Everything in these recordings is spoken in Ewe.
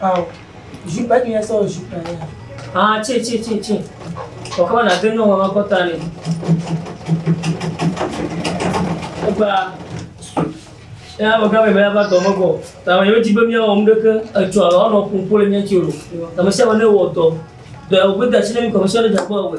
Ao, jupe ke ya sɔ jupe ya. Ah, tse tse tse tse. Kɔkɔ na de nyɔnua ma kɔta ne. Egba. Ya me gã me me va dɔ me bɔ. Ta me yo jibe mi awɔ mɖeke etsɔ alo ɔnɔ kunkole mi tsi o. Ta me sia me ne wɔ dɔ. Dɔ ya wo gbe da tsi ne mi kɔ me sia ne dza kpɔ awɔ.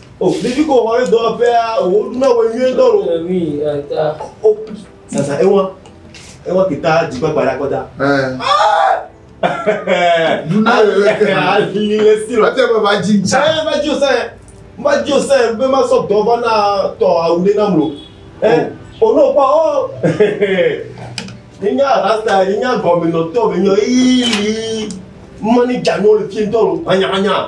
O ɖevi ko wɔle dɔwɔƒea o woɖu na wɔ nyuie ŋutɔ o. Ewi eta. O sasa ewa ewa kita dzigbagba ɖe akɔta. Duna le le ke. Ali le si lɔ. Ate be va dzi ntsa. Ɛ va dzi o sɛ va dzi o sɛ be ma sɔ dɔ va na tɔ awu ɖe nam lo. Ɛ o n'o kpɔ o. Nye rasta nye nya gɔme nɔ tɔ be nyɔ ii mɔni dza n'o le fi ŋutɔ lo manya manya.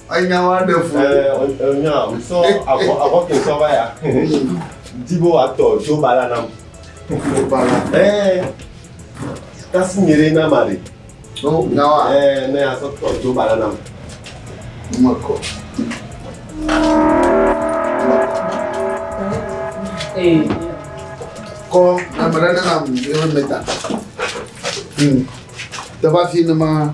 Enya wa ɖe fu. Ɛ enya o. Sɔ avɔ avɔ ke sɔ va ya. Di bo wa tɔ jo ba la nam. Jo ba la. Ɛ. Kasi mi re na ma re. No nya wa. Ɛ ne ya sɔ tɔ jo ba la nam. Ma ko. Ɛ. Ko na ma re na nam. Yo me ta. Hmm. Tava fi ne ma.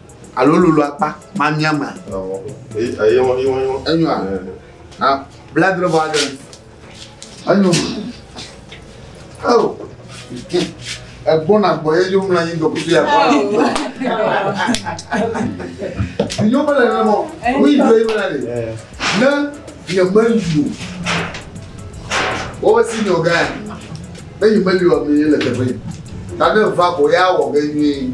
Alo lolo akpa mamia mea? Enyɔa? Na bla dre bɔ adre. Enyo. Oh. Egbɔna gbɔ ye yom la yi dɔkutu ya. Nyɔ bele ne mɔ. Wo yi do yi mena de. Ne nye meli o. Wo si nyɔ gã. Ne yi meli o mi le teƒe. Tade va ko ya wɔ ge nyuie.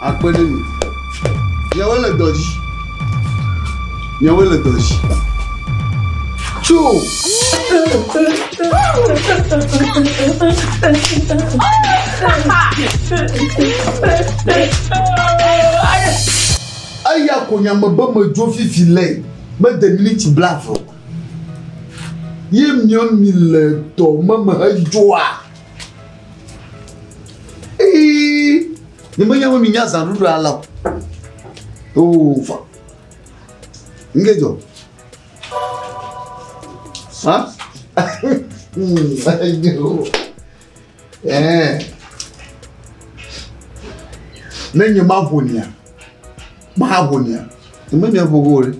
akpe ɖe mi. Miawoe le dɔ dzi. Miawoe le dɔ dzi. Tso! Eya ko nya me be medzo fifi lɛ mede miniti blave o. Ye miɔ mi le dɔ me me hedzoa. ni menye mi nya zanu ɖo ala o oo fa nge dzɔ ha ne nye ma ʋo nia ma ʋo nia ni menye ʋo ʋo ɖe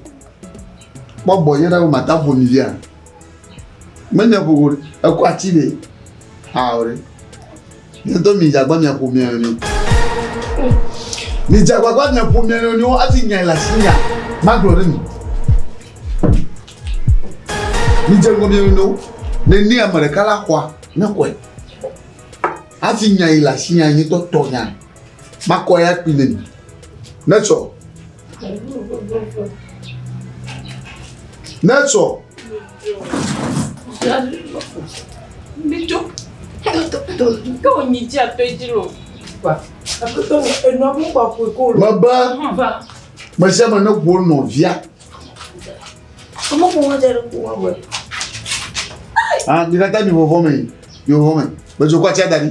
kpɔ bɔ yɛ ɖe ma ta ʋo ni via. Menye ƒoƒo ɖe, ekɔ ati ɖe. Ao ɖe. Mietɔ mi dze agbagba miaƒo mia nɔnɔe. Mi dze agbagba miaƒo mia nɔnɔewo hafi nyae le asi nya magblɔ ɖe mi. Mi dze ŋgɔ mia nɔnɔewo nene ame ɖeka la xɔa ne xɔe. Hafi nyae le asi nya nyuitɔ tɔ nya makɔ ya kpi ne mi. Netsɔ. Netsɔ. Netsɔ. Mebe me sia me ne ŋu nɔvia. Ah, mi katã mi vɔvɔ me, mi vɔvɔ me. Medzokɔ atia da ɖi.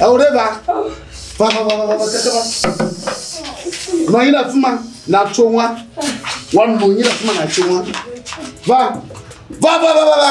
Awo ɖe va. Va va va va va keke va. Nɔ anyi ɖe afi ma na tso ŋua. Wa nɔ anyi ɖe afi ma na tso ŋua. Va va va va va.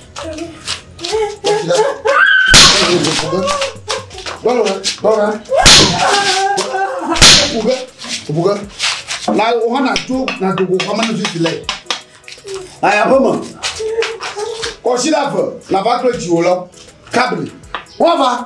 Là o hana tó na dogo kama ni fiti lɛ. Aya bɔ mɔ. Kɔsi la fɛ, la va kple dziwo lɔ. Kabri. Wọ́n va.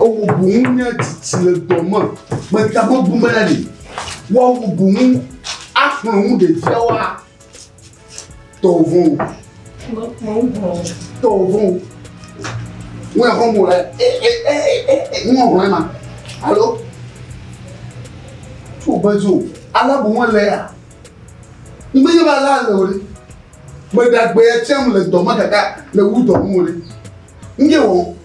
Ewu boŋ nye tsitsi le dɔ me. Meta gbogbo me na ɖi. Woawu boŋ axlɔ̃ ŋu ɖevia wa tɔwò vɔ̃ o. Tɔwò vɔ̃ o. Ŋu ya xɔm wòle. E e e e e ŋu ɔhlɔ̃ ema. Alo tso bezo. Ala boŋ ele ya. Ŋgbe nye be ala le o ɖe. Meɖe agbe ya tsɛm le dɔ me kaka le wu dɔ ŋu o ɖe. Ŋge wɔm.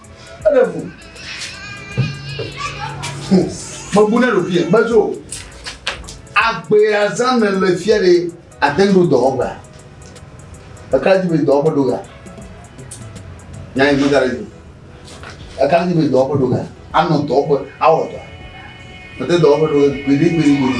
Eɖe ŋu. Mebu ne ɖo fie, medzo. Agbea zã me le fia ɖe ate ŋu ɖo dɔwɔƒea. Eka dzi be dɔwɔƒe ɖo ga. Nya yi gbega ɖe dzi. Eka dzi be dɔwɔƒe ɖo ga. Anɔ dɔwɔƒe, awɔ dɔ. Mete dɔwɔƒe ɖo gbeɖi gbeɖi gbeɖi.